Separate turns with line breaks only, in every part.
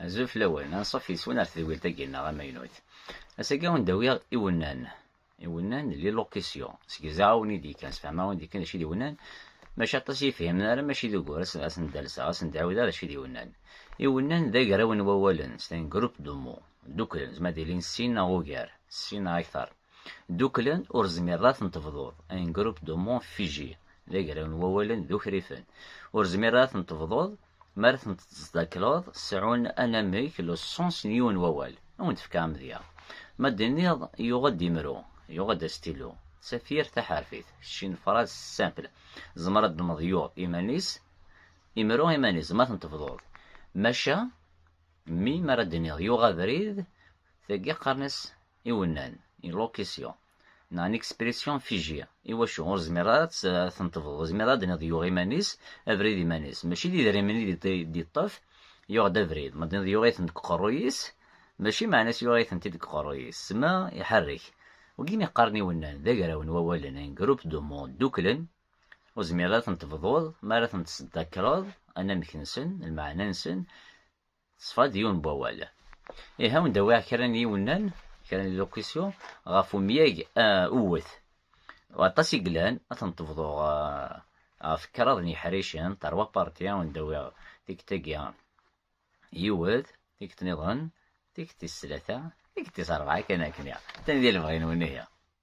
Azul fell-awen, anṣuf yes-wen ar tedwilt-agi-nneɣ amaynut. Ass-agi ad wen-d-awiɣ iwennan, iwennan n l'illocution, seg izeɛɛawen i d-yekkan, sfehmeɣ-awen-d yakan d acu i d iwennan, maca aṭas i yi-fhimen ara, maca d ugur, ad sen-d-alseɣ, ad sen-d-ɛiwdeɣ d acu i d iwennan. Iwennan d agraw n wawalen, c'est un groupe de mots, dduklen, zemren ad ilin sin neɣ ugar, sin neɣ akter. Dduklen ur zmireḍ ad ten-tebḍuḍ, un groupe de mots figé, d agraw n wawalen d ukrifen. Ur zmireḍ ad ten-tebḍuḍ, mi ara ten-tettdakleḍ seɛɛun anamek, le sens, n yiwen wawal. Ad wen-d-fkeɣ amedya. Ma d-tenniḍ yuɣ-d imru, yuɣ-d astilu, d tafyirt taḥerfit, kečč une phrase simple. Tzemreḍ ad d-tmeḍ yuɣ iman-is, imru iman-is, ma ten-tebḍuḍ. Maca, mi ara d-tenniḍ yuɣ abrid, tagi qqaren-as iwennan, une locution, neɣ une expression figée, iwacu ur zmireɣ ara ad ten-tebḍeḍ, zmireɣ ad d-niḍ yuɣ iman-is, abrid iman-is, mačči d idrimen i d-yeṭṭef, yuɣ-d abrid, ma d-niḍ yuɣ-iten deg uqerruy-is, mačči meɛna-s yuɣ-itent-id deg uqerruy-is, ssma iḥerrek. Wagin i qqaren iwennan, d agraw n wawalen, un groupe de mots, dduklen, ur zmireɣ ara ad ten-tebḍuḍ, mi ara ten-tesdakreḍ, anamek-nsen, lmeɛna-nsen, Teṣfa-d yiwen n wawal. Ihi ad wen-d-awiɣ kra n yiwennan, kra n locution, ɣef umyag uwet. Aṭas i yellan, ad ten-tebḍuɣ ɣef kraḍ n yiḥricen, terwa parti, ad wen-d-awiɣ tikti-agi yiwet, tikti-nniḍen, tikti-s tlata, tikti-s rebɛa kan akken. Atan di lebɣi-nwen ihi.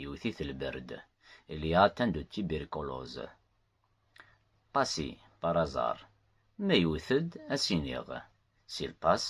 Yewwet-it lberd. Il y a atteint de tuberculose. Passi, par hasard. Ma yewwet-d, ad s-iniɣ. S'il pass,